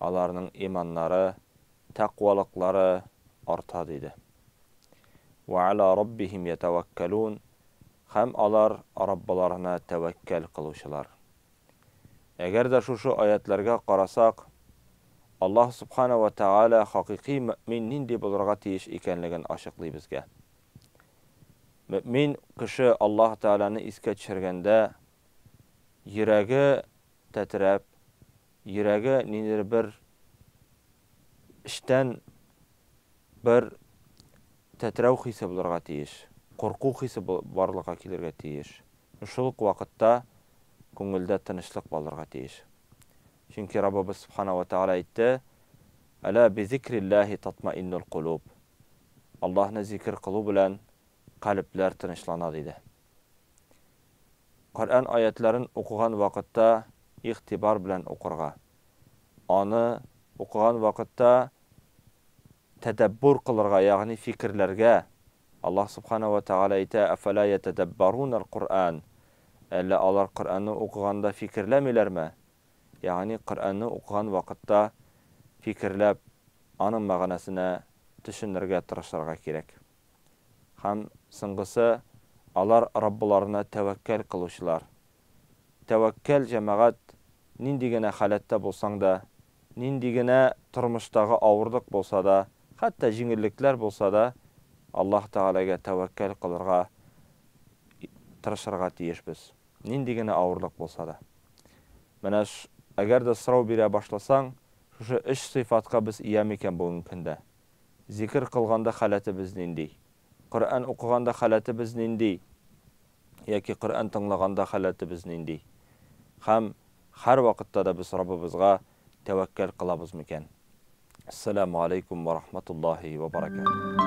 аларның иманнары, тәкъвалыклары арта, диде. Вә ала раббихим ятәвәккәлүн, һәм алар Раббыларына тәвәккәл кылучылар. Әгәр дә шушы аятьләргә карасак, Аллаһ Субхана вә Тәгалә хакыйкый мөэмин нинди булырга тиеш икәнлеген ачыклый безгә. Мөэмин кеше Аллаһ Тәгаләне искә төшергәндә, йөрәге тәтрәп, Йөрәге ниндидер бер эчтән бер тетрәү хисе булырга тиеш, курку хисе барлыкка килергә тиеш. Шул ук вакытта күңелдә тынычлык балырга тиеш. Чөнки Раббыбыз Сүбхана уә Тәгалә әйтте, Әлә бизикрилләһи татмаиннулкулуб, Аллаһны зикер кылу белән калебләр тынычлана, диде. Коръән аятьләрен укыган вакытта игътибар белән укырга, аны укыган вакытта тәдәббүр кылырга, ягъни фикерләргә. Аллаһ Субхана ва Тәгалә әйтә, Афәлә ятәдәббаруналь Коръән, Әллә алар Коръәнне укыганда фикерләмиләрме? Ягъни Коръәнне укыган вакытта фикерләп, аның мәгънәсенә төшенергә тырышырга кирәк. Һәм, соңгысы, алар Раббыларына тәвәккәл кылучылар. Тәвәккәл җәмәгать нинди генә халәттә булсаң да, нинди генә тормыштагы авырлык булса да, хәтта җиңеллекләр булса да, Аллаһ Тәгаләгә тәвәккәл кылырга тырышырга тиешбез. Нинди генә авырлык булса да. Менә әгәр дә сорау бирә башласаң, шушы өч сыйфатка без ия микән бүгенге көндә? Зикер кылганда халәтебез нинди? Коръән укыганда халәтебез нинди? Яки Коръән тыңлаганда халәтебез нинди? Һәм һәрвакытта да без Раббыбызга тәвәккәл кылабыз микән? Ассаламу алейкум ва рахматуллаһи ва баракатуһ.